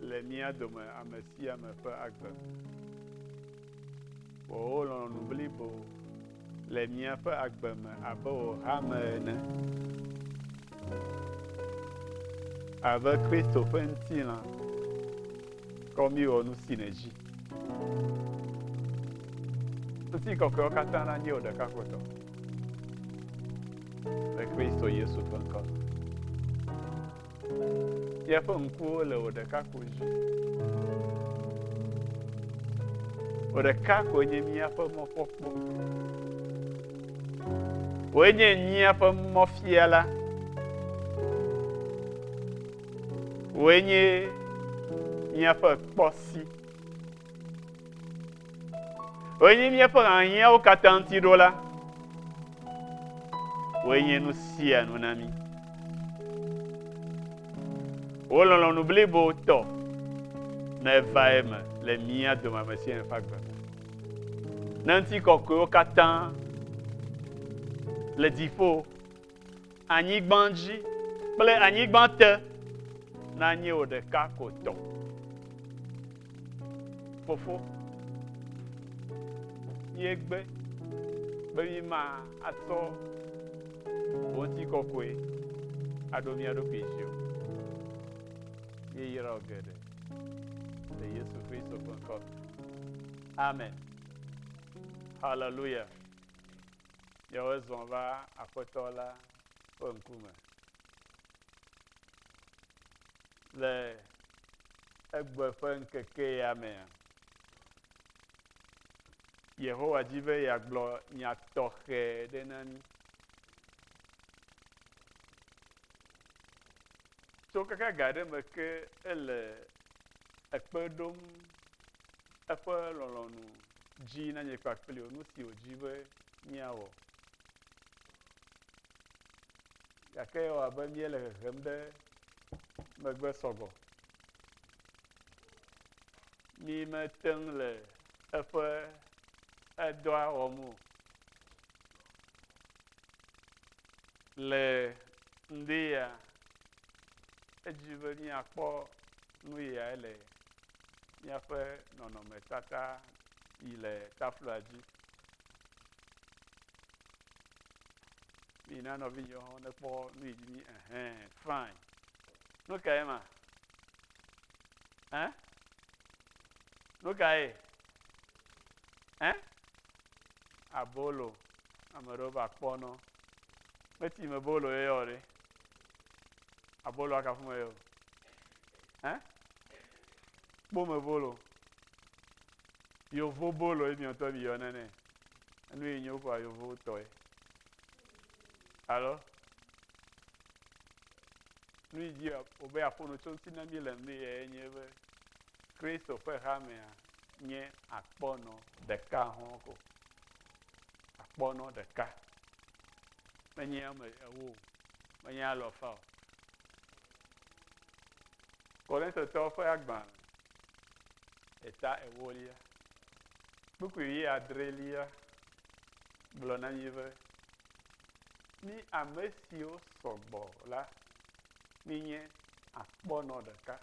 Le mía dome ame sia ame ƒe agbe me. Wɔ wò lɔlɔ̃nu blibo le míaƒe agbe me abe wò hame ene. Abe Kristo ƒe ŋutilã, kɔ mí wɔ nu si nèdzi. Ŋutikɔkɔewo katã nanye wò ɖeka ko tɔ. Le Kristo Yesu ƒe ŋkɔ me. Fia ƒe ŋkuwo le wò ɖeka ko dzi. Wò ɖeka ko nye míaƒe mɔkpɔkpɔ. Wòe nye míaƒe mɔfia la. Wòe nye míaƒe kpɔsi. Wòe nye míaƒe hiahiãwo katã ŋuti ɖo la. Wòe nye nu sia nu na mí. Wò lɔlɔ̃nu blibo tɔ ne va eme le mía dome ame sia ame ƒe agbe me. Ne ŋuti kɔkɔewo katã le dziƒo Anyigba dzi kple anyigba te nanye wò ɖeka ko tɔ. Fofo, míegbe be míma atsɔ wò ŋuti kɔkɔe aɖo mía ɖokui dzi o. Míeyra wò geɖe le Yesu Kristo ƒe ŋkɔ. Amen. Hallelujah. Ye wozɔ va Aƒetɔ la ƒe ŋkume le egbe ƒe ŋkeke ya mea, Yehowa di be yeagblɔ nya tɔxɛ ɖe na mí. Tso keke ga aɖe me ke ele ekpe ɖom eƒe lɔlɔ̃nu dzi na nye kpakpli o, nu si wòdi be míawɔ. Gake ewɔ abe míele hehem ɖe megbe sɔgbɔ. Mí mete ŋu le eƒe edɔa wɔm o. Le ŋdi ya, edzi be míakpɔ Nu yae le míaƒe nɔnɔmetata yi le tafloa dzi. Mina nɔvinyewo hã nekpɔ nu yi dzi mí ehɛn fain. Nu kae ma? Ɛ? Nu kae? Ɛ? Abolo. Ame aɖewo va kpɔ nɔ. Meti me bolo ye yɔ ɖe. Aboloa kafu me yɔ. Hein? Kpome bolo. Yovo bolo ye miɔtɔ mi yɔna nɛ. Enu yi nyo kɔ yovo tɔe. Alo? Nu yi dzi wobe aƒono tso ŋuti na mi le mi ye nye be Kristo ƒe hamea nye akpɔnɔ ɖeka hɔn ko. Akpɔnɔ ɖeka. Menye ame ewo, menye alɔfa o. Korintotɔwo ƒe agbalẽ eta ewolia kpukpui ʋi adrelia gblɔ na mí be, Mí ame siwo sɔ gbɔ la, míenye akpɔnɔ ɖeka,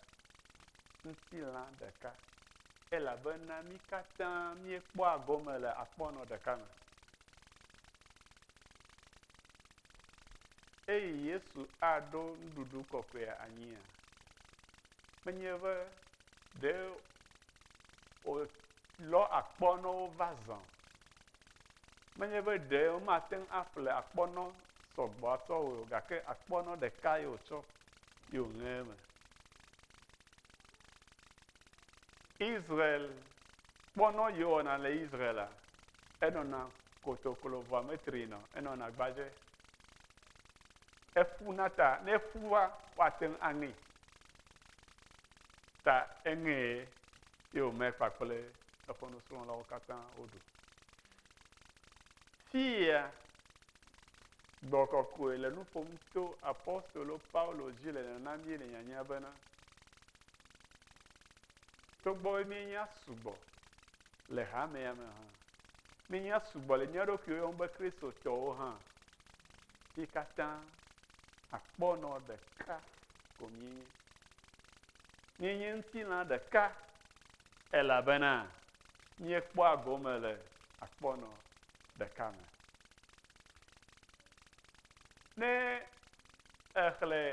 ŋutilã ɖeka, elabena mí katã míekpɔa gome le akpɔnɔ ɖeka me. Eyi Yesu aɖo nuɖuɖu kɔkɔea anyia? Menye be ɖe wòlɔ akpɔnɔ wova zã. Menye be ɖe womate ŋu aƒle akpɔnɔ sɔgbɔ atsɔ wɔe o gake akpɔnɔ ɖeka ye wòtsɔ ye wòŋe eme. Israel kpɔnɔ yewɔna le Israela, enɔna kotoklo vɔa metri nɔ, enɔna gbadze. Eƒu na ta, ne eƒu va, woate ŋu aŋee. Ta eŋee ye wòme kpakple eƒe nusrɔ̃lawo katã woɖu. Fia gbɔ kɔkɔe le nu ƒom to apostolo Paulo dzi le nana mí le nyanya bena Togbɔ be míenya sugbɔ le hamea me hã, míenya sugbɔ le mía ɖokuiwo yɔm be Kristotɔwo hã, mí katã akpɔnɔ ɖeka ko míenye. Míenye ŋutilã ɖeka elabena míekpɔa gome le akpɔnɔ ɖeka me. Ne Èxlẽ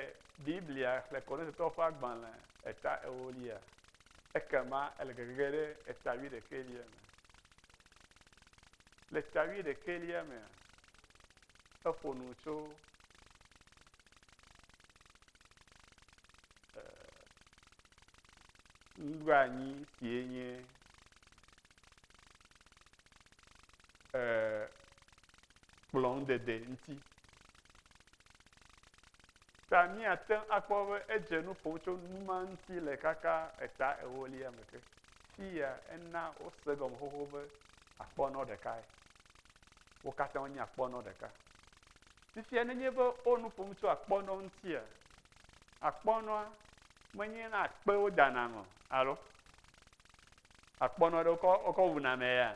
Biblia Xlẽ Korintotɔwo ƒe agbalẽ eta ewolia? Ekema ele gegege ɖe eta wuiɖekɛlia me. Le eta wuiɖekɛlia mea, eƒo nu tso nuɖoanyi sie nye kplɔŋdede ŋuti. Ta míate ŋu akpɔ be edze nu ƒom tso nu ma ŋuti le kaka eta ewolia me ke. Fiya ena wose gɔme xoxo be akpɔnɔ ɖekae. Wo katã wonye akpɔnɔ ɖeka. Fifia nenye be wo nu ƒom tso akpɔnɔ ŋutia, akpɔnɔa menye na akpewo dana ŋɔ alo akpɔnɔ ɖe wokɔ wokɔ wuna mɛ ya.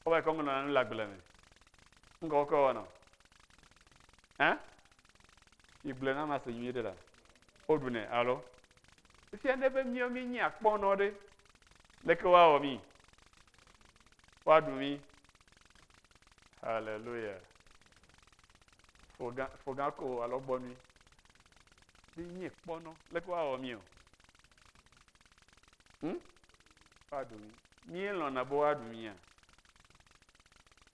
Wova kɔ ŋlɔna nu le agble me. Ŋgɔ wokɔ wɔnɔ. Hã? Migblɔ na ma se nyuie ɖe la. Woɖunɛ alo? Efia ne be míawo míenyi akpɔnɔ ɖe. Leke woawɔ mí? Woaɖu mí. Haleluya. Fogã fogã ko alo gbɔnui. Míenyi kpɔnɔ. Leke woawɔ mí o? Hm? Woaɖu mí. Míelɔ̃na be woaɖu mía?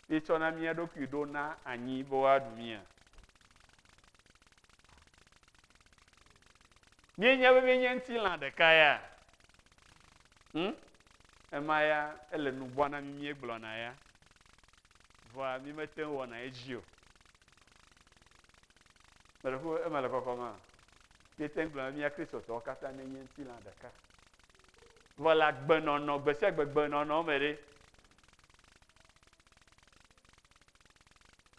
míetsɔna mía ɖokui ɖo na anyi be woaɖu mía? Míenya be míenye ŋutilã ɖeka ya? Hm? Ema ya ele nu bua na mí míegblɔna ya. Vɔa mímete ŋu wɔna edzi o. Mele ƒo eme le kɔkɔm a? Míete ŋu gblɔna be mía Kristotɔwo katã míenye ŋutilã ɖeka. Vɔ le agbenɔnɔ, gbe sia gbe gbenɔnɔ me ɖe,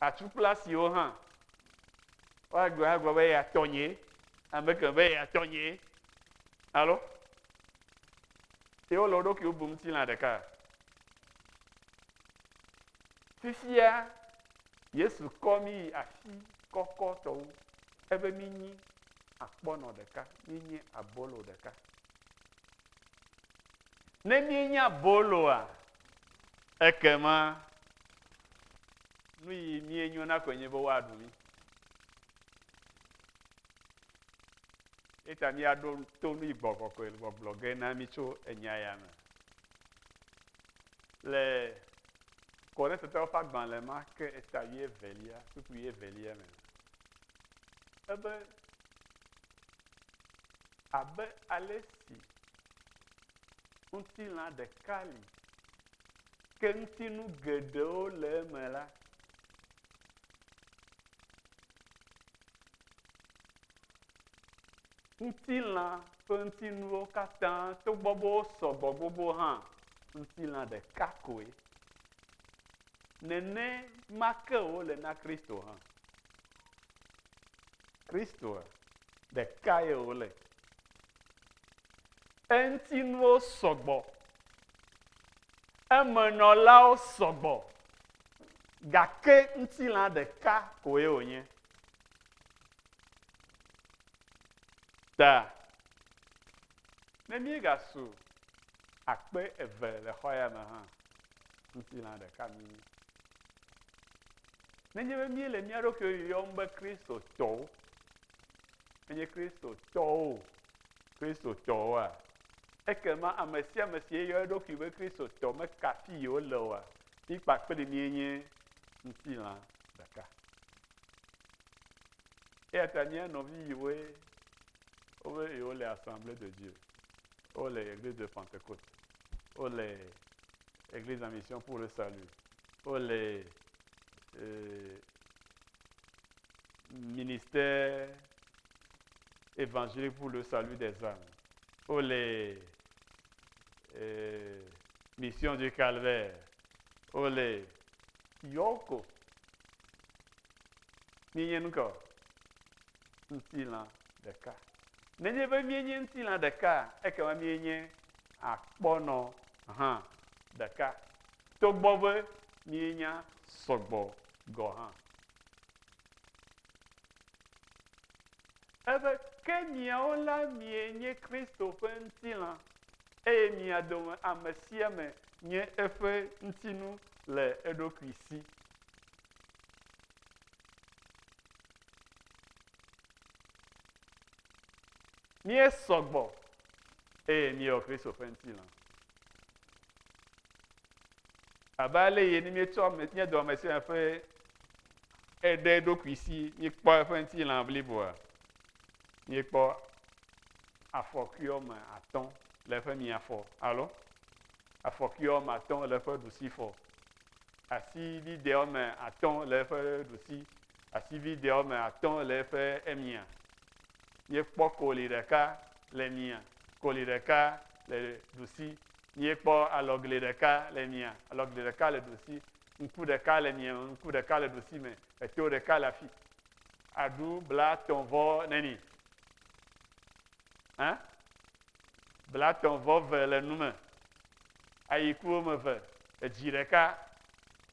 Atsu kple asiwo hã. Woagblɔ agblɔ be ya tɔnye, ame ke be ya tɔnye. Alo? Ye wole wo ɖokuiwo bum ŋutilã ɖeka. Fifia Yesu kɔ mí yi asi kɔkɔ tɔwo. Ebe mí nyi akpɔnɔ ɖeka, mí nyi abolo ɖeka. Ne míenye aboloa, ekema nu yi míenyo na koe nye be woaɖu mí. Eta míaɖo to nu yi gbɔgbɔ koe gbɔgblɔ ge na mí tso enya ya me. Le Korintetɔwo ƒe agbalẽ ma ke eta wi evelia, suku wi evelia me. Ebe abe ale si Ŋutilã ɖeka li, ke ŋutinu geɖewo le eme la, ŋutilã ƒe ŋutinuwo katã togbɔ be wosɔgbɔ gbogbo hã, ŋutilã ɖeka koe. Nene ma ke wòle na Kristo hã. Kristoa ɖeka ye wòle. Eŋutinuwo sɔgbɔ, emenɔlawo sɔgbɔ, gake ŋutilã ɖeka koe wònye. Ta, ne míegasu akpe eve le xɔ ya me hã, ŋutilã ɖeka míenye. Nenye be míele mía ɖokui yɔm be Kristotɔwo, enye Kristotɔwo, Kristotɔwoa, ekema ame sia ame si yeyɔ eɖokui be Kristotɔ meka afi yi wole oa, mi kpakple mie nye ŋutilã ɖeka. Eya ta mía nɔvi yiwoe wobe yewole assemblée de Dieu, wole Église de Pentecôte, wo le Église en Mission pour le Salut, wo le euh, ministère évangélique pour le salut des âmes, wo le euh, Mission du Calvaire, wo le yɔko míenye nu ka ŋutilã ɖeka nenye be míenye ŋutilã ɖeka ekema míenye akpɔnɔ hã ɖeka, togbɔ be míenya sɔgbɔ gɔ̃ hã. Ebe, Ke miawo la mienye Kristo ƒe ŋutilã, eye mia dome ame sia ame nye eƒe ŋutinu le eɖokui si. Míesɔ gbɔ eye míewɔ Kristo ƒe ŋutilã. Abe ale yi ne míetsɔ nye dɔ me sia ƒe eɖe ɖokui si míekpɔ eƒe ŋutilã bliboa, míekpɔ afɔkui wɔme atɔ̃ le eƒe miafɔ alo afɔkui wɔme atɔ̃ le eƒe ɖusifɔ, asi vidɛ wɔme atɔ̃ le eƒe ɖusi, asi vidɛ wɔme atɔ̃ le eƒe emia. Míekpɔ koli ɖeka le mia, koli ɖeka le ɖusi. Míekpɔ alɔgli ɖeka le mia, alɔgli ɖeka le ɖusi. Ŋku ɖeka le mia, ŋku ɖeka le ɖusi me. Eto ɖeka le afi. Aɖu blatɔ̃ vɔ neni? Hã? Blatɔ̃ vɔ ve le nu me. Ayi ku wo me ve. Edzi ɖeka.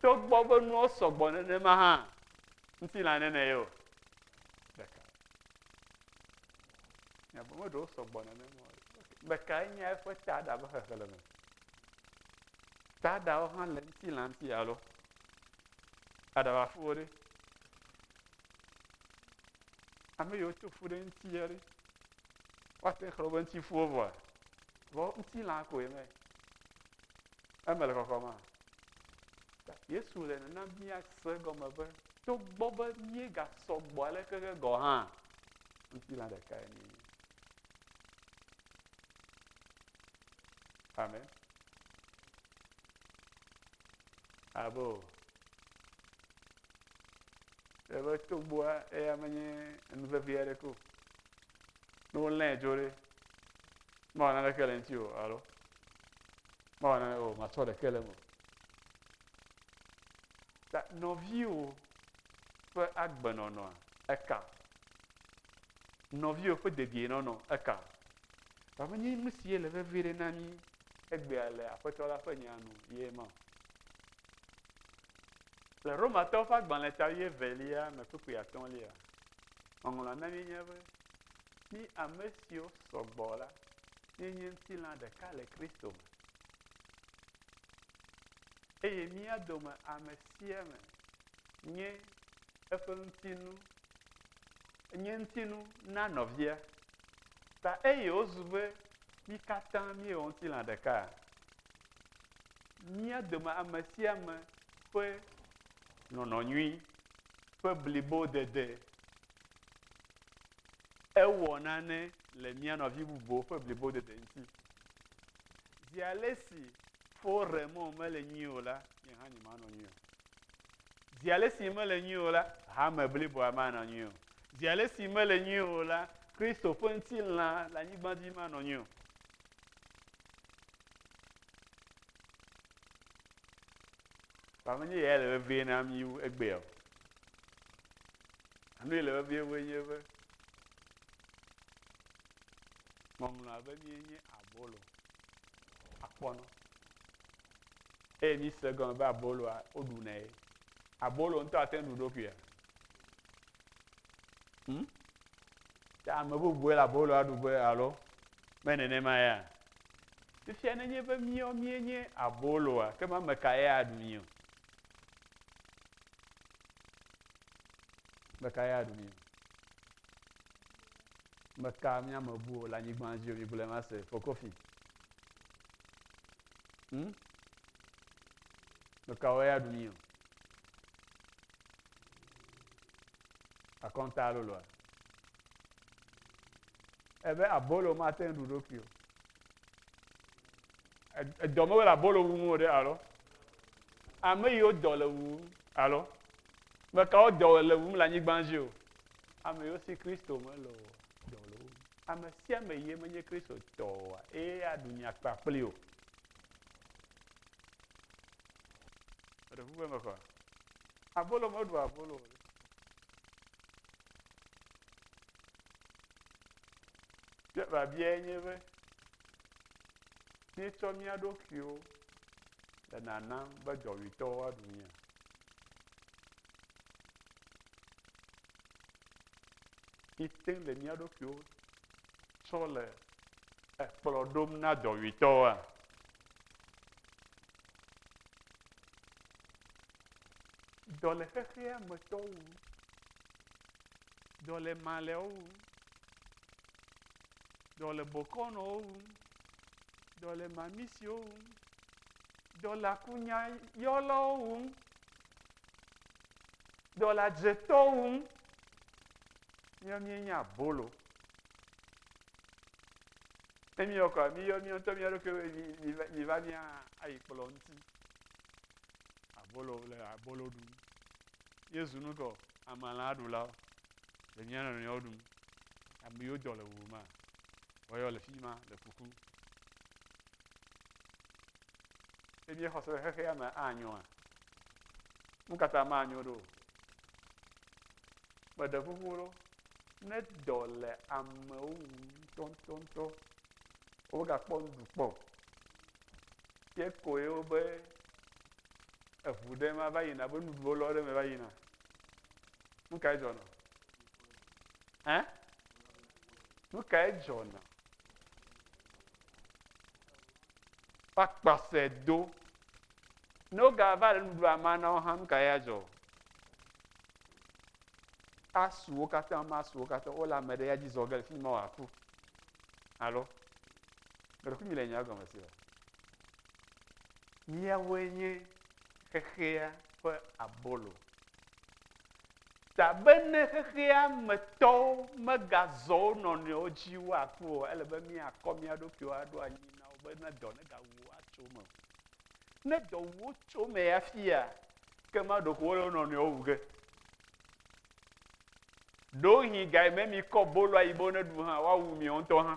Togbɔ be nuwo sɔgbɔ nenema hã, ŋutilã nene ye o. ɖeka. Nya bɔ meɖewo sɔgbɔ nenema o. Ɖekae nye eƒe taɖa ƒe xexlẽme. Taɖawo hã le ŋutilanti alo aɖabafuwo ɖe. Ame yiwo to fu ɖe ŋuti ɖe. Woate xlẽ woƒe ŋutifuwo vɔa. Vɔ ŋutilã koe me. Eme le kɔkɔma. Yesu le nana míase gɔme be togbɔ be míegasɔ gbɔ aleke ke gɔ̃ hã, ŋutilã ɖekae ni. Amen. Abo. Ebe togbɔa eya menye nu vevi aɖeke o. Ne wolãe dzo ɖe, mawɔ naneke le ŋuti o alo. Mawɔ nane o, matsɔ ɖeke le eme o. Ta nɔviwo ƒe agbenɔnɔa, eka. Nɔviwo ƒe dedienɔnɔ, eka. Vɔ menye nu si le vevi ɖe na mí egbea le Aƒetɔ la ƒe nyaa nu ye ma o. Le Romatɔwo ƒe agbalẽ ta wuievelia me kpukpui atɔ̃lia, ŋɔŋlɔa na míenya be, Mí ame siwo sɔ gbɔ la, ye nye ŋutilã ɖeka le Kristo me. Eye mía dome ame sia ame nye eƒe ŋutinu, nye ŋutinu na nɔvia. Ta eye wozu be mí katã míewɔ ŋutilã ɖeka. Mía dome ame sia ame ƒe nɔnɔ nyui, ƒe blibodede, ewɔ nane le mía nɔvi bubuwo ƒe blibodede ŋuti. Zi ale si fo re mɔ mele nyui o la, nye hã nyemanɔ nyui o. Zi ale si mele nyui o la, hame bliboa manɔ nyui o. Zi ale si mele nyui o la, Kristo ƒe ŋutilã le anyigba dzi manɔ nyui o. Ba menye yae le vevie na mí wu egbea o. Nu yi le vevie vue nye be ŋɔŋlɔ abe mie nye abolo akpɔnɔ eye mi se gɔme be aboloa woɖu nɛ ye abolo ŋutɔ ate ŋu ɖu ɖokuia hmm? ta ame bubue le aboloa ɖu be alo me nenema ya fifia nenye be miɔ mie nye aboloa ke ma me ka ye aɖu mi o Meka ya ɖu mi o. Meka mía me bu o le anyigba dzi o, mi gblɔe ma se, Fokofi. Hmm? Meka wo ya ɖu mi o. Akɔnta alo lɔa. Ebe abolo ma te ɖu ɖokui o. Edɔ me wole abolo wum o ɖe alo? Ame yiwo dɔ le wum alo? Me kawo dɔ le wum le anyigba dzi o. Ame yiwo si Kristo mele o dɔ le wum. Ame sia ame ye menye Kristo tɔ oa, eye aɖu nya kpa kpli o. Eɖe ƒuƒe me kɔa? Abolo meɖu abolo o. Biabia nye be míetsɔ mía ɖokuiwo le nanam be dɔwuitɔwo aɖu mía. míete le mía ɖokuiwo tsɔ le ekplɔ ɖom na dɔwuitɔa dɔ le xexea me tɔwo wu dɔ le malɛwo wu dɔ le bokɔnɔwo wu dɔ le mamisiwo wu dɔlakunyayɔlawo wum, dɔladzetɔwo wum, míawo míenye abolo. Ne míyɔ kɔa, míyɔ míawo ŋutɔ mía ɖokui be mi- mi va- mi va mía ayi kplɔ ŋuti. Abolo le abolo ɖum. Yesu nu kɔ amalã ɖulawo le mía nɔnɔewo ɖum. Ame yiwo dɔ le wuwu ma, woyɔ le fi ma le kuku. Eye míexɔ se be xexea me anyoa? Nu ka ta manyo ɖo? Meɖe ƒuƒu ɖo ne dɔ le amewo ŋu ŋutɔŋutɔŋutɔ wogakpɔ nuɖu kpɔ o. Ye koe wobe eŋu ɖe ma va yina be nuɖuwo lɔ ɖe me va yina. Nu kae dzɔna? Ɛ? Nu kae dzɔna? va kpɔse do ne wogava le nuɖuɖua ma na wo hã nu ka ya dzɔ asuwo katã ma asuwo katã wole ame ɖe ya dzi zɔ ge le fi ma wòaku alo meɖeku mi le nya gɔme si o míawoe nye xexea ƒe abolo Ta be ne xexea me tɔwo megazɔ wo nɔnɔewo dzi woaku o, ele be míakɔ mía ɖokuiwo aɖo anyi na wo be ne dɔ negawu wo atso eme o. Ne dɔ wu wo tso eme ya fia, ke ma ɖeko wole wo nɔnɔewo wu ge. Ɖewohĩ ga yi me mikɔ bolo ayi be woneɖu hã, woawu mi ŋutɔ hã.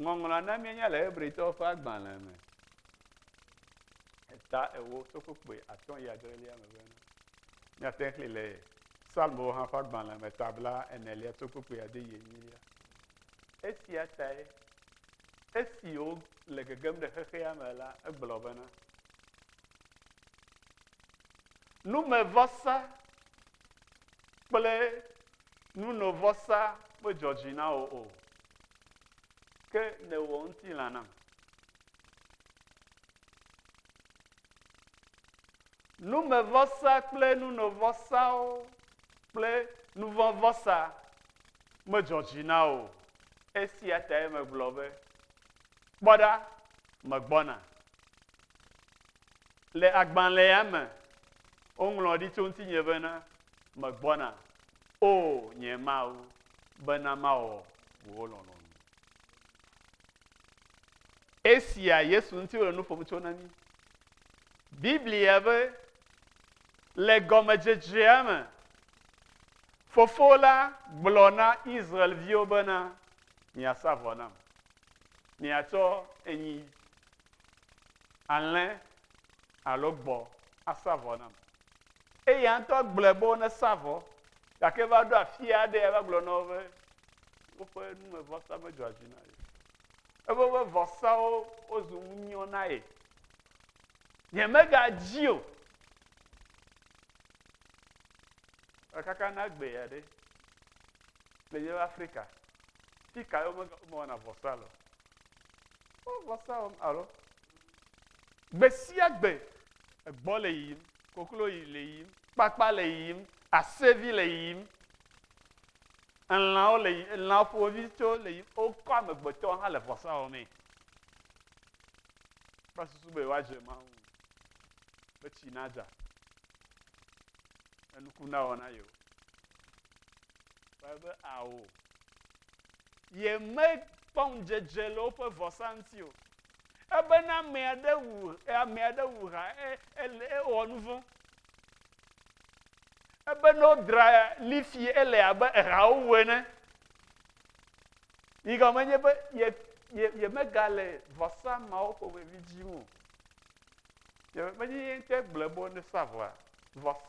Ŋɔŋlɔa na míenya le Hebritɔwo ƒe agbalẽ me, eta ewo, sofokpui atɔ̃ yi adrelia me bena, Míate ŋu axlẽe le Psalmowo hã ƒe agbalẽ me, ta bla enelia, sofokpui ade yi enyilia. Esia tae esi wole gegem ɖe xexea me la, egblɔ bena, Numevɔsa kple nunovɔsa medzɔ dzi na wò o, ke nèwɔ ŋutilã nam. Numevɔsa kple nunovɔsawo kple nuvɔvɔsa medzɔ dzi na wò. Esia tae megblɔ be, Kpɔ ɖa, megbɔna. Le agbalẽa me, woŋlɔ ɖi tso ŋutinye bena, Megbɔna, O nye Mawu, bena mawɔ wò lɔlɔ̃nu. Esia Yesu ŋuti wole nu ƒom tso na mí. Biblia be le gɔmedzedzea me, Fofo la gblɔ na Israel-viwo bena, Miasa vɔ nam. Miatsɔ enyi alẽ alo gbɔ̃ asa vɔ nam. Eya ŋutɔ gblɔe be wonesa vɔ, gake va ɖo afi aɖee va gblɔ na wo be woƒe numevɔsa medzɔa dzi na ye. Ebe woƒe vɔsawo wozu ŋunyɔ na ye. Yemegadzi o. Ekaka na gbee aɖe le yewo Afrika. Fi ka ye womewɔna vɔsa le o. Wo vɔsa wɔm alo. Gbe sia gbe egbɔ le yiyim, koklo yi le yiyim, kpakpa le yiyim, asevi le yiyim, elãwo le yiyim, elã ƒomevi tso le yiyim, wokɔ amegbetɔ hã le vɔsa wɔmee. Kpɔ susu be woadze Mawu ŋu, be tsi nadza, enuku nawɔ na yewo. Ebe ao. Yemekpɔ ŋudzedze le woƒe vɔsa ŋuti o. Ebena ame aɖe wu ame aɖe wu ha ele ewɔ nu vɔ̃. Ebena wodra lifi ele abe ehawo wu ene. Yi gɔme nye be ye ye yemegale vɔsa mawo ƒomevi dzi o. Yemegbe nye ye ŋutɔ gblɔ be wone sa vɔa. Vɔs,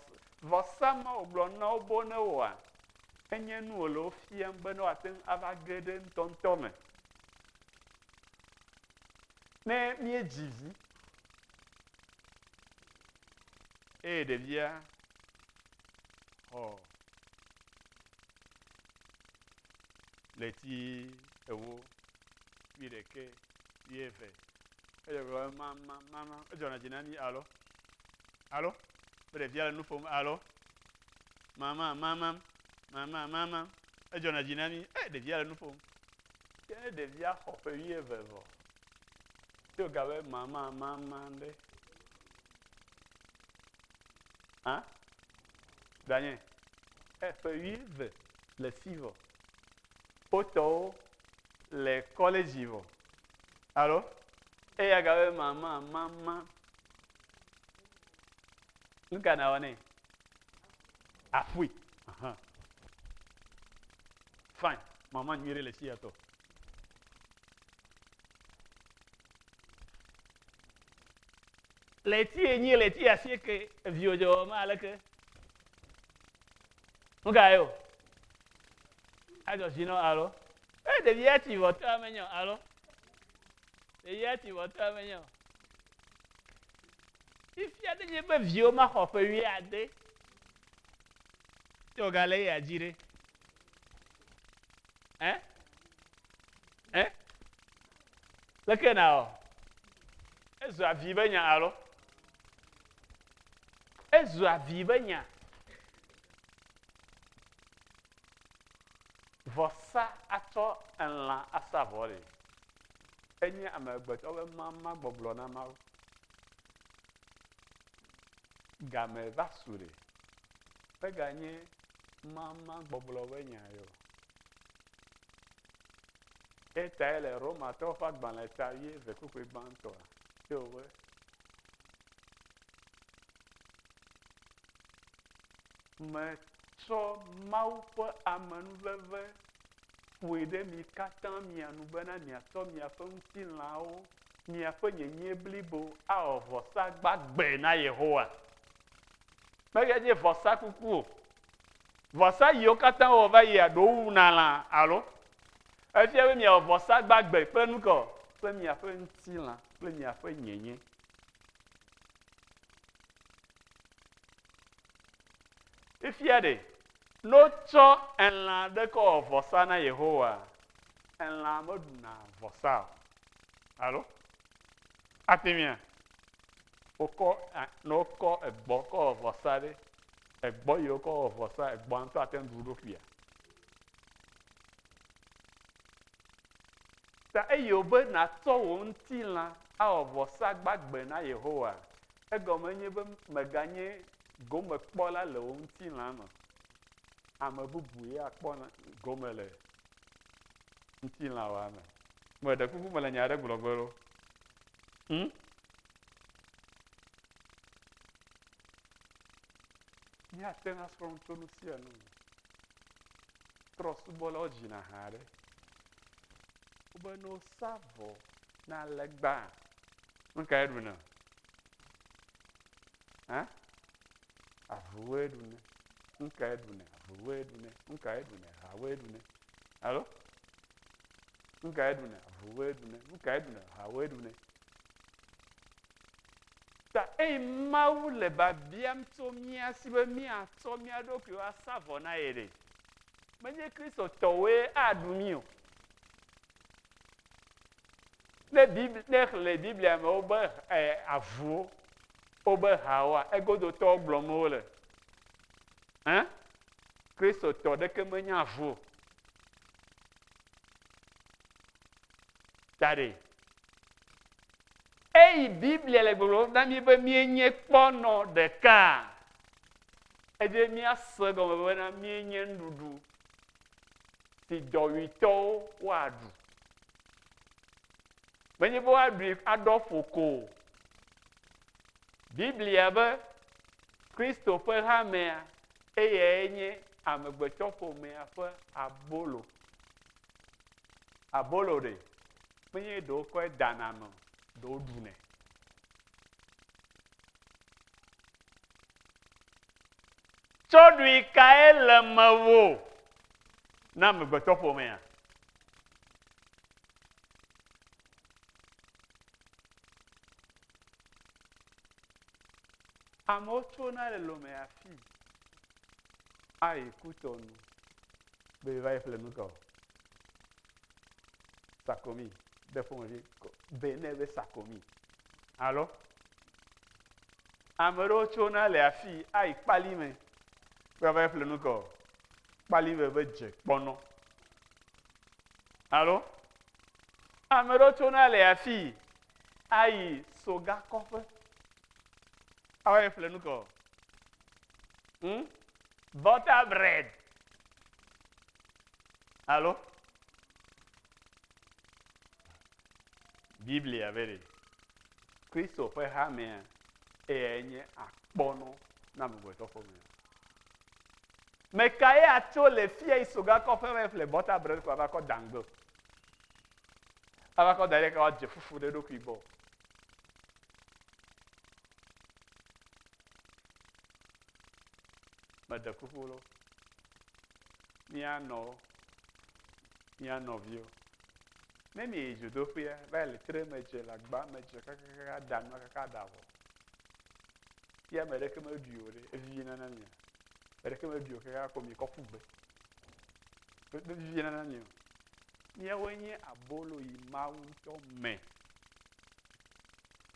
vɔsa ma wògblɔ na wo bo ne wɔa, enye nu wòle wo fiam be ne woate ŋu ava ge ɖe ŋutɔŋutɔ me. Ne míedzi vi eye ɖevia xɔ ɣleti ewo, wuiɖeke, wuieve, edzɔ gblɔ be mama, mama, edzɔna dzi na mí alo Alo? Be ɖevia le nu ƒom. Alo? Mama, mama, mama, mama. Edzɔna dzi na mi. E, ɖevia le nu ƒom. Ke ne ɖevia xɔ ƒe wuieve vɔ, ye wògabe mama, mama ɖe. Hã? Danye, e, ƒe wuieve le fi vɔ. Wotɔwo le kɔlɛdzi vɔ. Alo? Eya gabe mama, mama, Nu ka nawɔ nɛ? Aƒui. Ahan. Fine. Mama nyuie ɖe le si yatɔ. Le eti enyi le eti asieke eviwo dze wɔma aleke. Nu ka ye o? Adzɔ si nɔ alo. E ɖevi atsi vɔ tɔ amenyɔ alo. Eya ti wɔtɔ menye o. Fifia ne nye be viwo maxɔ ƒe wuiade tso galé ya dzi ɖe. Eh? Eh? Leke na o. Ezu avi be nya alo? Ezu avi be nya. Vɔsa atsɔ elã asa vɔe. Enye amegbetɔ ƒe mama gbɔgblɔ na Mawu. Game va su ɖe. Meganye mama gbɔgblɔ ƒe nya yɔ. Etae le Romatɔwo ƒe agbalẽ ta ye ve kpukpui gbãtɔ ye wobe. Me tsɔ Mawu ƒe amenuveve ƒoe ɖe mi katã mia nu bena miatsɔ miaƒe ŋutilãwo, miaƒe nyenyee blibo awɔ vɔsa gbagbe na Yehowa. Mege nye vɔsa kuku o. Vɔsa yiwo katã wowɔ va yia ɖewo wuna lã alo? Efia be miawɔ vɔsa gbagbe kple nu kae? Kple miaƒe ŋutilã kple miaƒe nyenye. Fifia ɖe, ne wotsɔ elã ɖe kɔ wɔ vɔsa na Yehowa, elã meɖuna vɔsa o. Alo? Ate ŋuia? Wokɔ, ne wokɔ egbɔ kɔ wɔ vɔsa ɖe, egbɔ yi wokɔ wɔ vɔsa, egbɔa ŋutɔ ate ŋu ɖu ɖokuia? Ta eye wòbe nàtsɔ wò ŋutilã awɔ vɔsa gbagbe na Yehowa. Egɔme enye be mèganye gomekpɔla le wò ŋutilã me o. Ame bubu ye akpɔ gome le ŋutilãwòa me. Meɖe kuku mele nya aɖe gblɔ ge ɖo. Hm? Míate ŋu asrɔ̃ nu tso nu sia nu me. Trɔ̃subɔlawo dzina ha ɖe wobe ne wosa vɔ na legba, nu kae ɖuna? Hã? Avuwoe ɖuna. Nu kae ɖuna? Avuwoe ɖuna. Nu kae ɖuna? Hawoe ɖuna. Alo? Nu kae ɖuna? Avuwoe ɖuna. Nu kae ɖuna? Hawoe ɖuna. Ta eyi Mawu le biabiam tso mía si be míatsɔ mía ɖokuiwo asa vɔ na ye ɖe? Menye Kristotɔwoe aɖu mí o. Ne Biblia, ne xlẽ Biblia me wobe e, avuwo, wobe hawoa, egodotɔwo gblɔm wole. Hã? Kristotɔ ɖeke menye avu o. Ta ɖe Eyi Biblia le gbɔgblɔm na mí be míenye kpɔ nɔ ɖekaa, edze míase egɔme bena míenye nuɖuɖu si dɔwuitɔwo woaɖu. Menye be woaɖui aɖɔ ƒo ko o. Biblia be Kristo ƒe hamea eyae nye amegbetɔƒomea ƒe abolo. Abolo ɖe? eye ɖewo kɔe dana me ɖewo ɖunɛ. Tsɔɖui kae le mewò na amegbetɔ ƒomea? Amewo tsona le lome afi ayi kutɔnu be va yi ƒle nu ka o. Sakomi be ƒomevi Benin be Sakomi. Alo ame ɖewo tsona le afii ayi kpali me be va ƒle nu kɔ kpali me be dze kpɔnɔ. Alo ame ɖewo tsona le afii ayi soga kɔƒe ava yi ƒle nu kɔ. Hmm? Butter bread. Alo? Biblia be ɖe Kristo ƒe hamea eyae nye akpɔnɔ na amegbetɔ ƒomea. Meka ye atso le fia yi sogakɔ ƒe me ƒle bɔta bred kɔ ava kɔ dangbe. Ava kɔ da ɖe ka wadze fufu ɖe ɖokui gbɔ. Mede kuku lo. mía nɔwo, mía nɔviwo. Ne mieyi dzodoƒea va yi le tre me dze le agba me dze kakakaka aɖa nua kaka aɖa vɔ, ye ame ɖeke meɖui o ɖe, evivina na mia? Ame ɖeke meɖui o kaka ko miekɔ ƒu gbe. Mevivina na mi o. Míawoe nye abolo yi Mawu ŋutɔ me.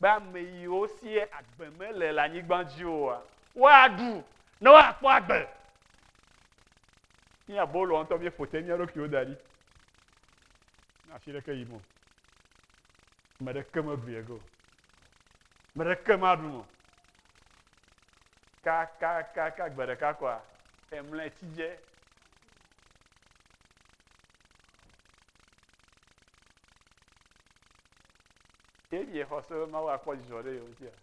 be ame yiwo sie agbe mele le anyigba dzi oa woaɖu ne woakpɔ agbe mí aboloa ŋutɔ míeƒo te mía ɖokuiwo da ɖi afi ɖeke yim o ame ɖeke meɖui ege o ame ɖeke maɖu o kakakaka gbe ɖeka kɔa emlɔ etsi dze Ke miexɔ se be Mawu akpɔ dzidzɔ ɖe yewo ŋutia?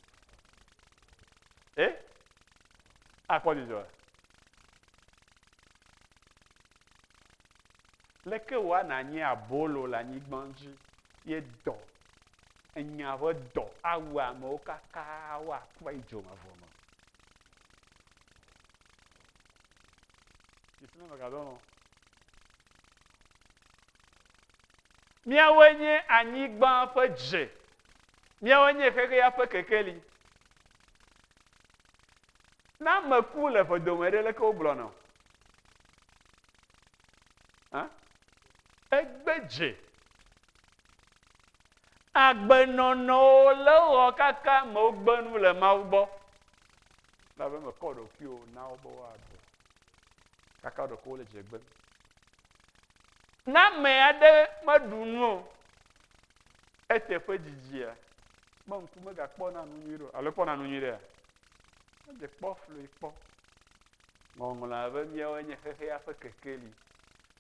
E? Eh? Akpɔ dzidzɔ. Leke wòa nanyi abolo le anyigba dzi ye dɔ, enya ƒe dɔ awu amewo kaka woakpɔ idzo me vɔ me? Ìsime megadɔ nɔ. Míawoe nye anyigba ƒe dze. Míawoe nye xexea ƒe kekeli. Ne ame ku le ƒe dome ɖe, leke wogblɔ nɔ? Egbe dze. Agbenɔnɔwo le wɔ kaka me wogbe nu le Mawu gbɔ. Labe mekɔ ɖokuiwo na wo be woaɖu. Kaka ɖokuiwo le dze gbe. Ne ame aɖe meɖu nu o, eteƒe dzidzia? Me ŋku megakpɔna nu nyui ɖo, alo ekpɔna nu nyui ɖea? Edze kpɔ flui kpɔ. Ŋɔŋlɔa be míawo nye xexea ƒe kekeli.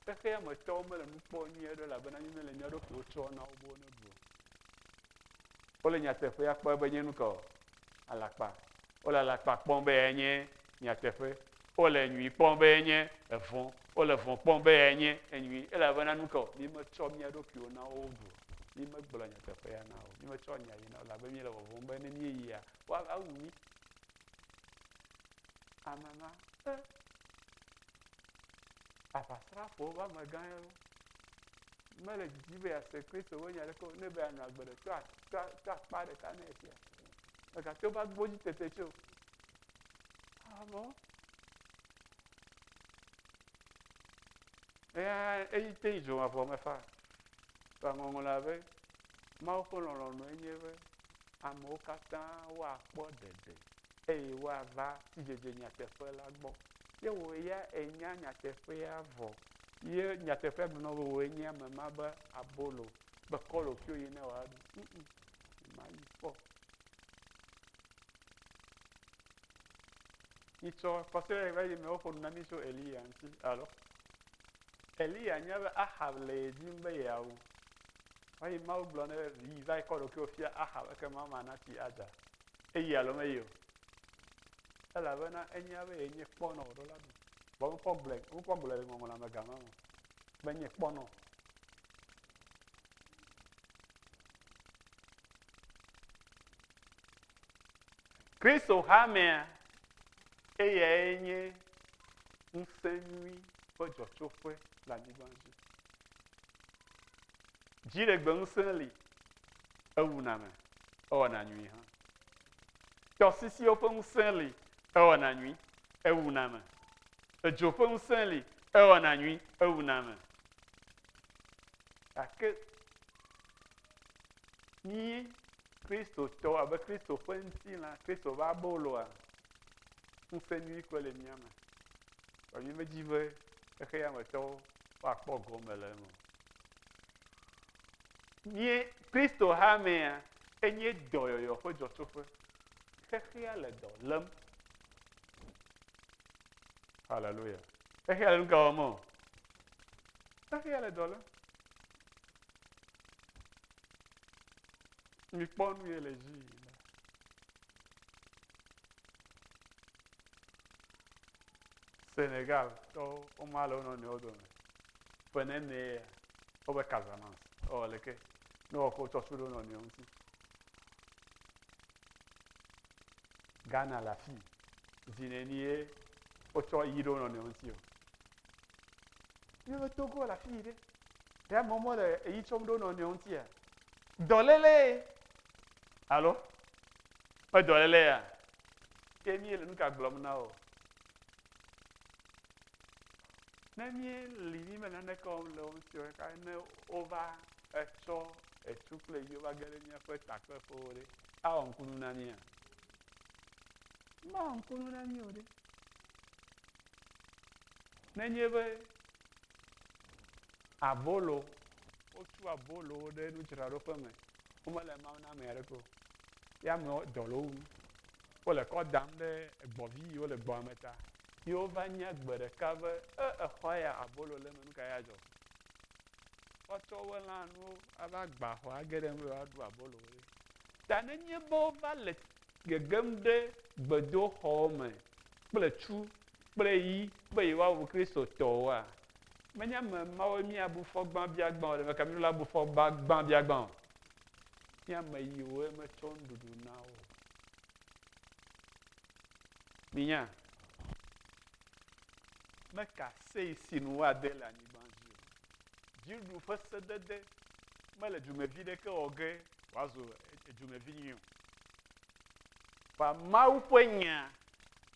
Xexea me tɔwo mele nu kpɔ nyui aɖe elabena mí mele mía ɖokuiwo tsɔ na wo be woneɖu o. Wole nyateƒea kpɔe be nye nu ka o? Alakpa. Wole alakpa kpɔm be enye nyateƒe. wole nyui kpɔm be enye evɔ̃, wole vɔ̃ kpɔm be enye enyui, elabena nu ka o? Mímetsɔ mía ɖokuiwo na wo o, mímegblɔ nyateƒea na wo, mímetsɔ nya yi na wo, elabe míele vɔvɔ̃m be ne míeyia, woava wu mí. Ame ma, eh, aʋasrafowo ƒe amegã ye wo. Mele didi be yease Kristo ƒe nya ɖeke o, ne be anɔ agbe ɖe to akpa ɖeka ne esia. Megate ŋu va gbɔ dzi tete tse o. Avɔ. Eya eyi te yi dzoma vɔ me fa. Fa ŋɔŋlɔ la be Mawu ƒe lɔlɔ̃nu enye be amewo katã woakpɔ ɖeɖe eye woava sidzedze nyateƒe la gbɔ. Ye wò ya enya nyateƒea vɔ. Ye nyateƒea gblɔ be wòe nye ame ma be abolo, be kɔlofio yi ne wòaɖu. Mayi kpɔ. yi tsɔ kɔsrɛ va yi me woƒo nu na mi tso eliya ŋuti alo eliya nya be ahab le ye dim be yeawu va yi mawu gblɔ ne yi va yi kɔ ɖokuiwo fia ahab eke ma ma nati adza eyi alo meyi o elabena enya be yenye kpɔnɔ wòɖo la du vɔ wokɔ gblɔe wokɔ gblɔe le ŋɔŋlɔ me gama me be nye kpɔnɔ Kristo hamea eyae nye ŋusẽ nyui ƒe dzɔtsoƒe le anyigba dzi. Dziɖegbe ŋusẽ li, ewuna me, ewɔna nyui hã. Tɔsisiwo ƒe ŋusẽ li, ewɔna nyui, ewuna me. Edzo ƒe ŋusẽ li, ewɔna nyui, ewuna me. Gake Yi Kristotɔ abe Kristo ƒe ŋutilã, Kristo ƒe aboloa, ŋusẽ nyui kɔ le mía me. Vɔ mi medzi be xexea me tɔwo woakpɔ gɔme le eme. Mie Kristo hamea enye dɔyɔyɔ ƒe dzɔtsoƒe. Xexea le dɔ lém. Haleluya. Xexea le nu ka wɔm o? Xexea le dɔ lém. Mikpɔ nu ye le dzi yim. Senegal tɔwo woma le wo nɔnɔewo dome ƒe nene ya wobe Casamance ewɔ leke ne wɔkɔ tɔtsu ɖe wo nɔnɔewo ŋuti. Ghana le afi zi neni ye wotsɔ yi ɖe wo nɔnɔewo ŋuti o. Míaƒe Togo le afi yi ɖe. Ɖe amewo mele eyi tsɔm ɖe wo nɔnɔewo ŋutia? Dɔléle alo me dɔléle ya? Ke míele nu ka gblɔm na wo? Ne míeli mí me naneke wɔm le wo ŋuti o ɖeka ne wova etsɔ etu kple yi wova ge ɖe míaƒe takpeƒewo ɖe awɔ ŋkunu na mía? Mawɔ ŋkunu na mí o ɖe. Nenye be Abolo, wotu abolowo ɖe nudzraɖoƒe me, womele Mawu na ame aɖeke o. Ye amewo dɔ le wo wum. Wole kɔ dam ɖe egbɔvi yiwo le gbɔa me ta. Ye wova nya gbe ɖeka be, E, exɔa ya, abolo le eme, nu ka ye adzɔ? Woatsɔ woƒe lãnuwo ava gba xɔa age ɖe eme be woaɖu abolowo ɖe. Ta nenye be wova le gegem ɖe gbedoxɔ me kple tsu kple yi be yewoawu Kristotɔwoa? Menye ame mawoe míabu fɔ gbãbiagbã o, ɖe meka míɖo la bu fɔ gbãbiagbã o. Nye ame yiwoe metsɔ nuɖuɖu na wo. Minya, meka sei si nu woade le anyigba dzi o. Dziɖuɖu ƒe sedede mele dumevi ɖeke wɔ ge wòazu edzumevi nyui o. Ba Mawu ƒe nya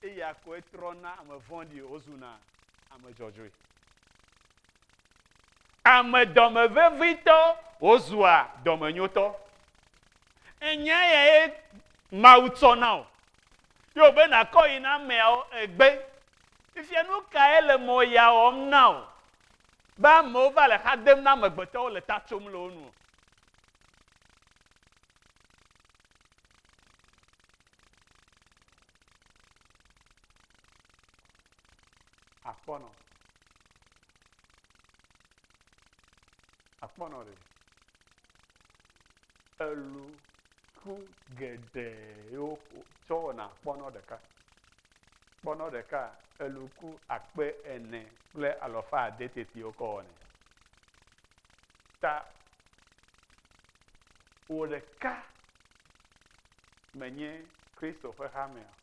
eya koe trɔna ame vɔ̃ɖi wozuna ame dzɔdzɔe. Ame dɔme vevitɔ wozua dɔmenyotɔ. Enya ya ye Mawu tsɔ na o. Ye wòbe nàkɔ yi na ameawo egbe. Fifia nu kae le mɔ ya wɔm na o? Be amewo va le xa dem na amegbetɔwo le ta tsom le wo nu o. akpɔnɔ akpɔnɔ ɖe elu ku geɖe yewo tsɔ wɔna akpɔnɔ ɖeka kpɔnɔ ɖeka elu ku akpe ene kple alɔfa ade tete wokɔ wɔnɛ ta wò ɖeka menye Kristo ƒe hamea.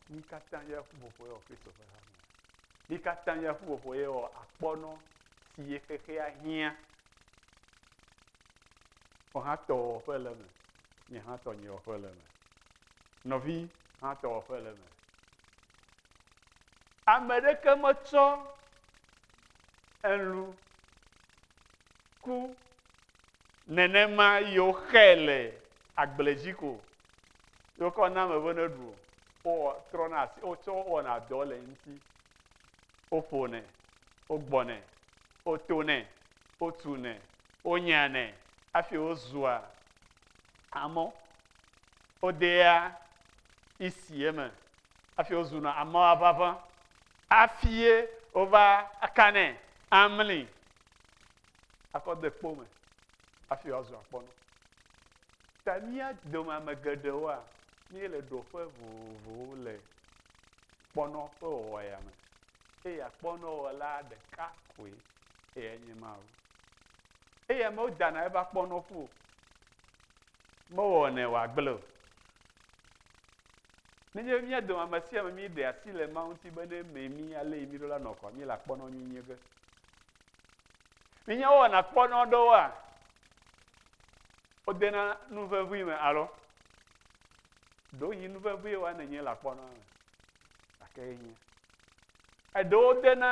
Mi katã ya ƒuƒoƒo yɔ Kristo ƒe hamea. Mi katã ya ƒuƒoƒo yɔ akpɔnɔ si ye xexea hiã. Wò hã tɔ wɔ ƒe le me, nye hã tɔ nye wɔ ƒe le me. Nɔvi hã tɔ wɔ ƒe le me. Ame ɖeke metsɔ elu ku nenema yewo xe le agble dzi ko yewo kɔ na ame be ne ɖu wowɔ trɔna asi wotsɔ wɔna dɔ le ŋuti woƒonɛ wogbɔnɛ wotonɛ wotunɛ wonyanɛ hafi wozua amɔ wodea isi eme. Hafi wozuna ameawo ʋaʋã hafie wova akanɛ amli akɔ de kpo me hafi woazu akpɔnɔ. Ta mía dome ame geɖewoa, míele ɖoƒe vovovowo le kpɔnɔ ƒe wɔwɔ ya me eye akpɔnɔwɔla ɖeka koe eye enye Mawu. Eye amewo dana eƒe akpɔnɔƒu o, mewɔnɛ wòagblẽ o. Nenye be mía dome ame sia ame míɖe asi le Mawu ŋuti be ne mee mí alé mí ɖo la nɔ kɔa, míele akpɔnɔ nyui nye ge. Minya wowɔna akpɔnɔ ɖewoa, wodena nu vevui me alo ɖewohĩ nu vevui wa nenye le akpɔnɔ me gake ye nye. Eɖewo dena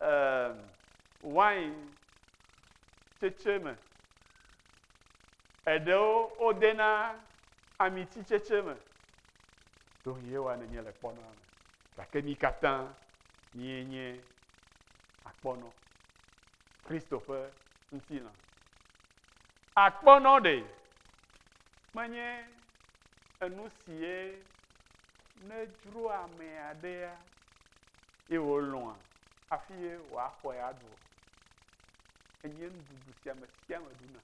ehm, wain tsetse me Eɖewo wodena amititsetse me. Ɖo yewa nenye le kpɔnɔa me. Gake mi katã mie nye akpɔnɔ. Kristo ƒe ŋutilã. Akpɔnɔ ɖe menye enu sie ne dzro ame aɖea ye wòlɔ̃a hafi ye wòaxɔe aɖu o. enye nuɖuɖu si ame sia ame ɖuna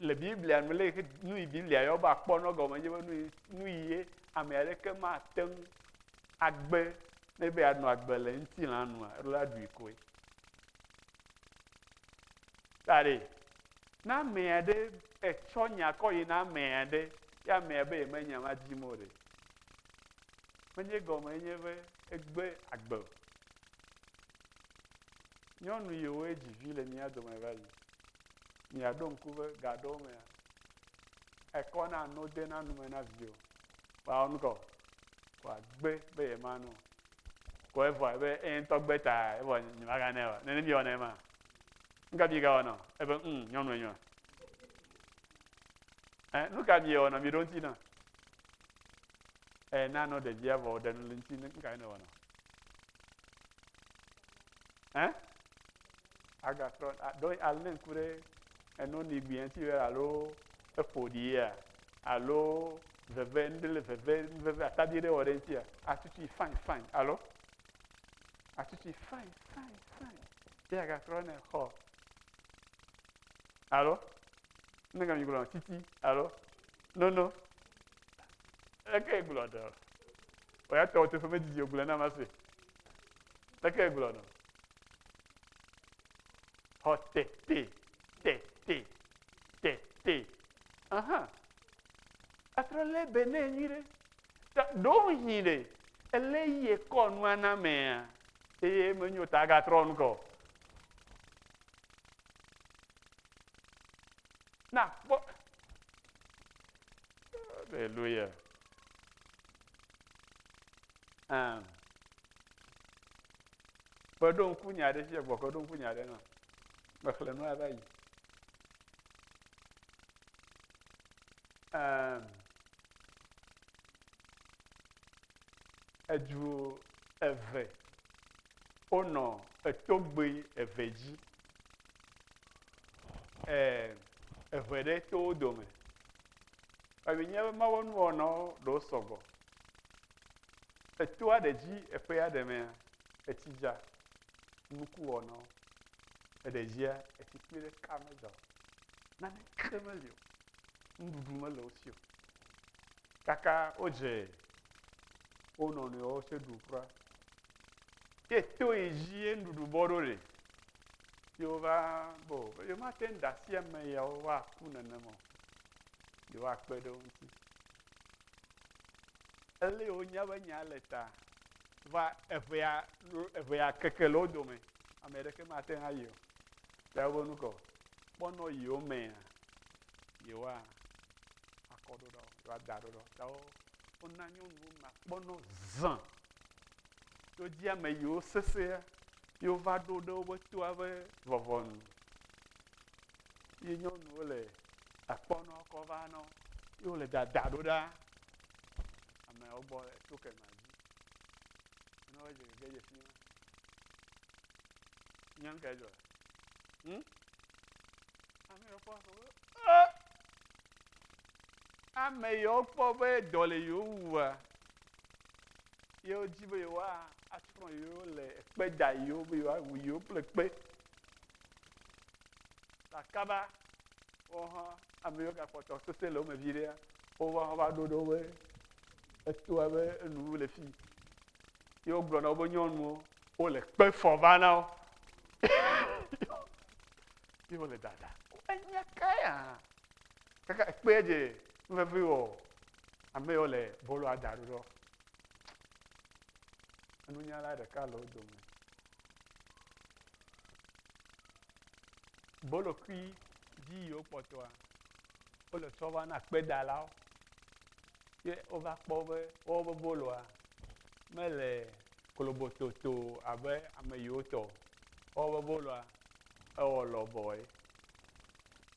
le biblia me le nu yi biblia yɔ be akpɔ nɔ gɔme nye be nu yi nu yi ye ame aɖeke mate ŋu agbe ne be anɔ agbe le ŋutilã nua eɖo la ɖui koe ta ɖe na ame aɖe etsɔ nya kɔ yi na ame aɖe ya amea be yemenya ma dim o ɖe menye gɔme enye be egbe agbe o Nyɔnu yiwoe dzi vi le mía dome va yi. Miaɖo ŋku be ga aɖewo mea, ekɔ na no dena nu me na viwo. Woawɔ nu kɔ, wòagbe be yemanu o. Ko evɔe be eye ŋutɔ gbe ta evɔ nyemaganɛ o. Nene miewɔnɛ ma. Nu ka miegawɔ nɔ? Ebe, um, nyɔnu enyo. Eh, nu ka miewɔ nɔ? Miɖo ŋuti na. Eh, na no ɖevia vɔ wòɖe nu le ŋuti, nu ka nɔ? Ɛ? Agatrɔ ɖo alé ŋku ɖe eno ni gbiɛti wɛ alo eƒo ɖi ya alo veve ŋɖele veve veve atabi ɖe wɔ ɖe ŋti ya atutui fain fain alo atutui fain fain fain ye agatrɔ ne xɔ alo ne gami gblɔ titi alo nono eke gblɔ dɔ. O ya tɔwò teƒe medidi o, gblɔe na ma se. Leke egblɔ nɔ? Xɔ tete, tete, tete. Aha. Atrɔ lé be ne nyui ɖe. Ta ɖo hin ɖe, ele yie kɔ nua na mea, eye menyo ta agatrɔ nu kɔ. Na kpɔ. Hallelujah. Um, kpeɖo ŋku nya aɖe fia gbɔ kpeɖo ŋku nya aɖe na mexlẽ nu ava yi um, edu eve wonɔ etogbui eve dzi. Ee, eve ɖe to wo dome. Ebi nye be mawo nuwɔnawo ɖo sɔgbɔ. Etoa ɖe dzi eƒea ɖe mea, etsi dza, nuku wɔnawo. Eɖe dzia, etsi kpui ɖe ka me dza o. Nane ke meli o. Nuɖuɖu mele wo si o. Kaka wodze wo nɔnɔewo tse ɖu kura. Ye to yi dzi ye nuɖuɖu bɔ ɖo le. Ye wova bɔ be yewomate ŋu ɖe asi ame yawo woaku nenema o. Yewoakpe ɖe wo ŋuti. Ele wonya be nya le ta. Va eŋea eŋea keke le wo dome. Ame ɖeke mate ŋu ayi o. Ta wobe nu kɔ. Kpɔnɔ yiwo mea yewoa akɔ ɖoɖɔ, yewoada ɖoɖɔ. Ta wo wona nyɔnuwo ma kpɔnɔ zã Tso dzi ame yiwo sesẽ yi wova ɖo ɖe woƒe toa ƒe vɔvɔ nu. Yi nyɔnuwo le akpɔnɔ kɔ va nɔ yi wole dada ɖo ɖa ameawo gbɔ le to kema dzi. Ne wodze gege dze fi ma. Nyɔnu ka dzɔ? Hmm? Ame ɖe kpɔ afɔ be, "Eh!" ame yewo kpɔ be dɔ le yewo wua, yewo di be yewoa asrɔ̃ yewo le ekpe da yewo be yewoa wu yewo kple kpe. Akaba wo hã ame yiwo gakpɔtɔ sese le wo me vi ɖea, wova hã va ɖo ɖe wobe etoa be enu le fi. Ye wogblɔ na wobe nyɔnuwo, wole kpe fɔ va na wo. Ye wole dada. Enya ka ya kaka ekpe edze nuvevi wɔ ame yɔ le bolo ada ɖo ɖɔ enunyala ɖeka le wo dome bolokui dzi yiwo kpɔtɔa wole tsɔ va na kpedalawo ye wova kpɔ be wobe boloa mele kolobototo abe ame yiwo tɔ wobe boloa ewɔ lɔbɔe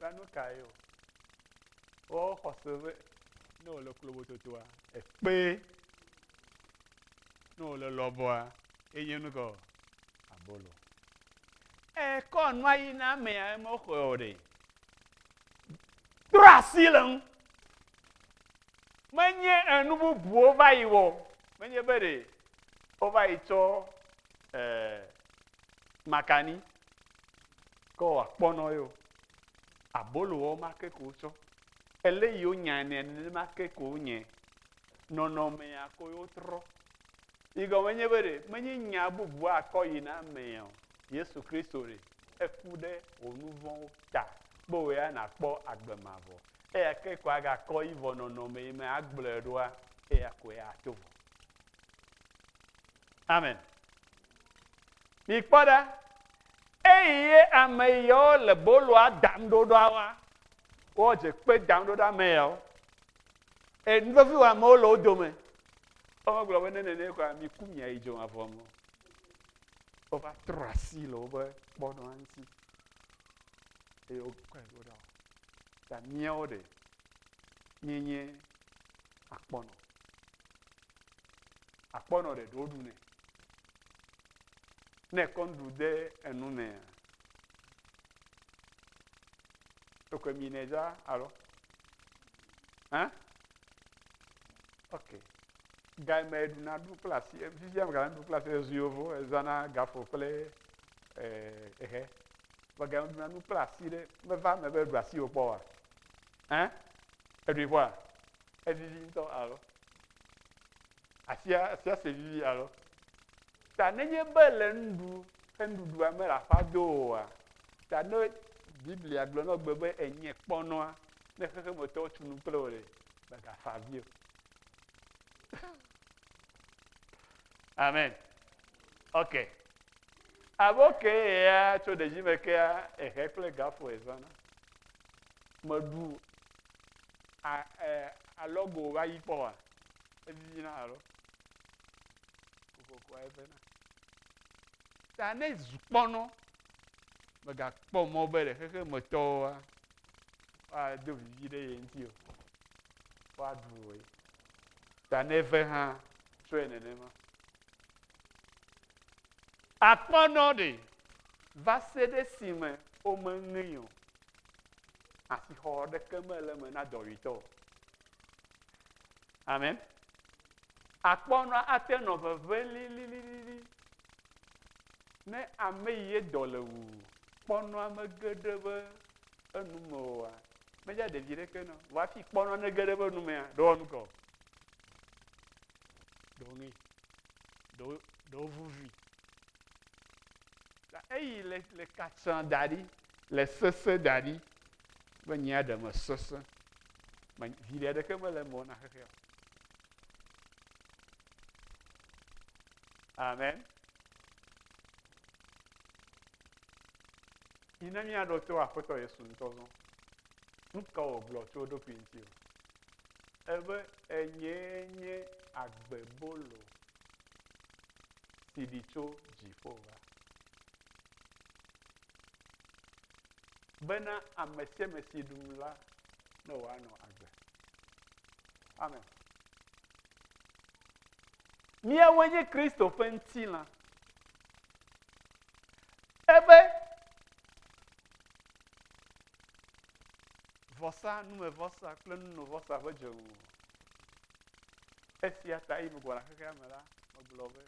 La nu kae o? Wo xɔse be ne wòle klobototoa, ekpee. Ne wòle lɔbɔa, enye nu ka o? Abolo. Ekɔ nua yi na amea, emexɔe o ɖe. Trɔ asi le ŋu. Menye enu bubuwo va yi wɔ, menye be ɖe wova yi tsɔ eh, makani Ke wɔ akpɔnɔ yio. Abolo wɔ ma ke ko wotsɔ. Ele yi wonyae nɛ nenema ke ko wonyae. Nɔnɔmea ko yo trɔ. Yi gɔme nye be ɖe menye nya bubu akɔ yi na amea o. Yesu Kristo ɖe eku ɖe wò nuvɔwo ta be wò ya nàkpɔ agbe mavɔ. Eya ke ko agakɔ yi vɔ nɔnɔme yi me agblɔe ɖoa eya koe ato vɔ. Amen. Mikpɔ ɖa, eyi ye ame yawo le boloa dam ɖo ɖoa wa, woadze kpe dam ɖo ɖe ame yawo. E, nuvevi wa amewo le wo dome. Womegblɔ be ne nene kɔa, miku miayi dzomavɔ me. Wova trɔ asi le wobe kpɔɖoa ŋuti. Eye wokɔe ɖo ɖa. Ta míawo ɖe, míenye akpɔnɔ. Akpɔ nɔ ɖeɖe woɖu nɛ. Ne ekɔ nuɖu de enu mea, ekɔe mi nɛ za alo? Hã? Ok. Ga me ɖuna ɖu kple asi, fifia me ɖu kple asi ezu yovo ezana gafo kple eh, ehe. Vɔ ga me ɖuna nu kple asi ɖe meva me be ɖu asi wokpɔ wa? Hã? Eɖui ƒoa? Evivi ŋutɔ alo asia asia se vivi alo. Ta nenye be le nuɖu ke nuɖuɖua me le aƒa do oa, ta ne Biblia gblɔ nɔ gbe be enye kpɔnɔa ne xexemetɔwo tu nu kple wò le mègafa avi o. Amen. Ok. Abo ke ya tso ɖevi me kea ehe kple gafo ezɔna. Meɖu a e alɔ go va yi kpɔ wa evivi na alɔ kokoko eve na ta ne zu kpɔnɔ megakpɔ mɔ be le xexe me tɔwo wa wa do vivi ɖe ye ŋuti o wa ɖu o ye ta ne ve hã trɔe nenema akpɔnɔ ɖe va se ɖe si me womeŋe o Asixɔ ɖeke mele eme na dɔwuitɔ o. Amen. Akpɔ nɔ ate nɔ veve lililili. Ne ame yi ye dɔ le wu kpɔnɔ ame geɖe be enu me oa, medze ɖevi ɖeke nɔ. Vɔ hafi kpɔnɔ ne geɖe be nu mea, ɖewɔ nu kɔ. Ɖewo ŋe. Ɖewo ɖewo vuvi. Eyi le le katsã da ɖi. le sese da ɖi be nye aɖe me sese me viɖe aɖeke mele me na xexea amen yi ne míaɖo to aƒetɔ yesu ŋutɔ zɔ nu ka wògblɔ tso eɖokui ŋuti o ebe enye nye agbe bolo si ɖi tso dziƒo va bena ame sia ame si ɖum la ne wòanɔ agbe. Amen. Míawoe nye Kristo ƒe ŋutilã. Ebe vɔsa, numevɔsa kple nunovɔsa ƒe dzonu. Esia ta yi megbɔna xexea me la, megblɔ be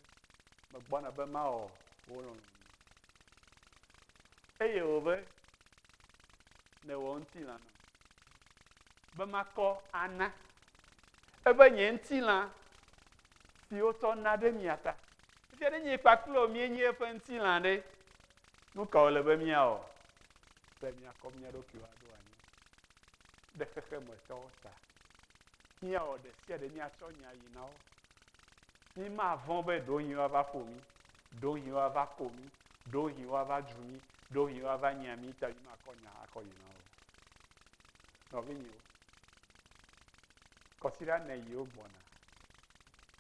megbɔna be mawɔ wo lɔlɔ̃. Eye wòbe, Ne wò ŋutilã nɔ be makɔ ana ebe nye ŋutilã si wotsɔ na ɖe mia ta. Efia ɖe nye kpakple wò míenye eƒe ŋutilã ɖe, nu ka wòle be míawɔ be míakɔ mía ɖokuiwo aɖo anyi ɖe xexemetɔwo ta? Míawɔ ɖe sia ɖe míatsɔ nya yi na wo. Mímavɔ̃ be ɖewohĩ woava ƒo mí, ɖewohĩ woava ko mí, ɖewohĩ woava dzu mí, ɖewohĩ woava nyia mí ta mímakɔ nya akɔ yi na wo. Nɔvinyewo, kɔsiɖa ne yiwo gbɔna.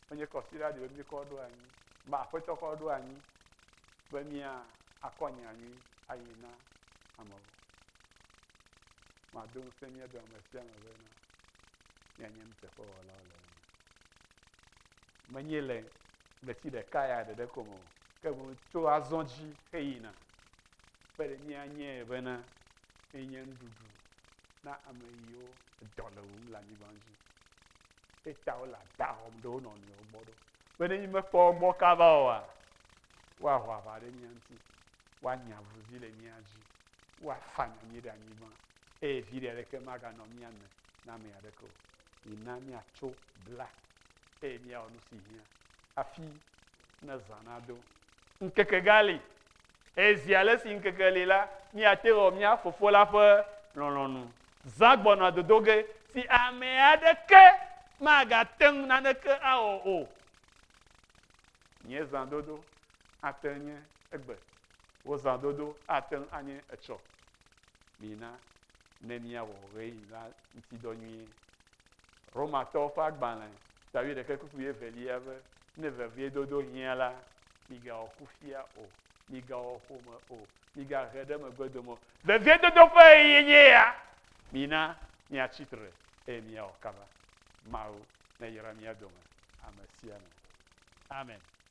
Wonye kɔsiɖa ɖewo míkɔ ɖo anyi. Ba aƒetɔ kɔ ɖo anyi be mía akɔ nya nyui ayi na amewo. Mado ŋusẽ mía dome sia me be na mianye nuteƒewɔlawo le Menye le ɣleti ɖeka ya ɖeɖe ko me o, ke boŋ tso azɔ dzi heyina. Be ɖe míanye bena enye nuɖuɖu na ame yiwo dɔ le wum le anyigba dzi. Eta wole ada wɔm ɖe wo nɔnɔewo gbɔ ɖo. Be ne mímekpɔ wo gbɔ kaba oa, woaho aʋa ɖe mía ŋuti, woanya avuzi le mía dzi, woafanya mí ɖe anyigba. eye viɖe aɖeke maganɔ mía me na ame aɖeke o. Mina míatso bla, eye míawɔ nu si hiã hafi ne zã nado. Ŋkeke gali, eye zi ale si ŋkeke li la, míate ŋu awɔ mía Fofo la ƒe lɔlɔ̃nu. Zã gbɔna dodo ge si ame aɖeke magate ŋu naneke awɔ o. Nye zãdodo ate ŋu nye egbe, wò zãdodo ate ŋu anye etsɔ, Mina ne míawɔ ɣeyiɣi la ŋuti dɔ nyuie. Romatɔwo ƒe agbalẽ tawi ɖeke kuku wuievelia be, Ne veviedodo hiã la, migawɔ kufia o, migawɔ ƒome o, migahe ɖe megbedome o. Veviedodo ƒe ɣeyiɣie nye ya. Mina míatsi tre eye míawɔ kaba. Mawu nayra mía dome ame sia ame. Amen.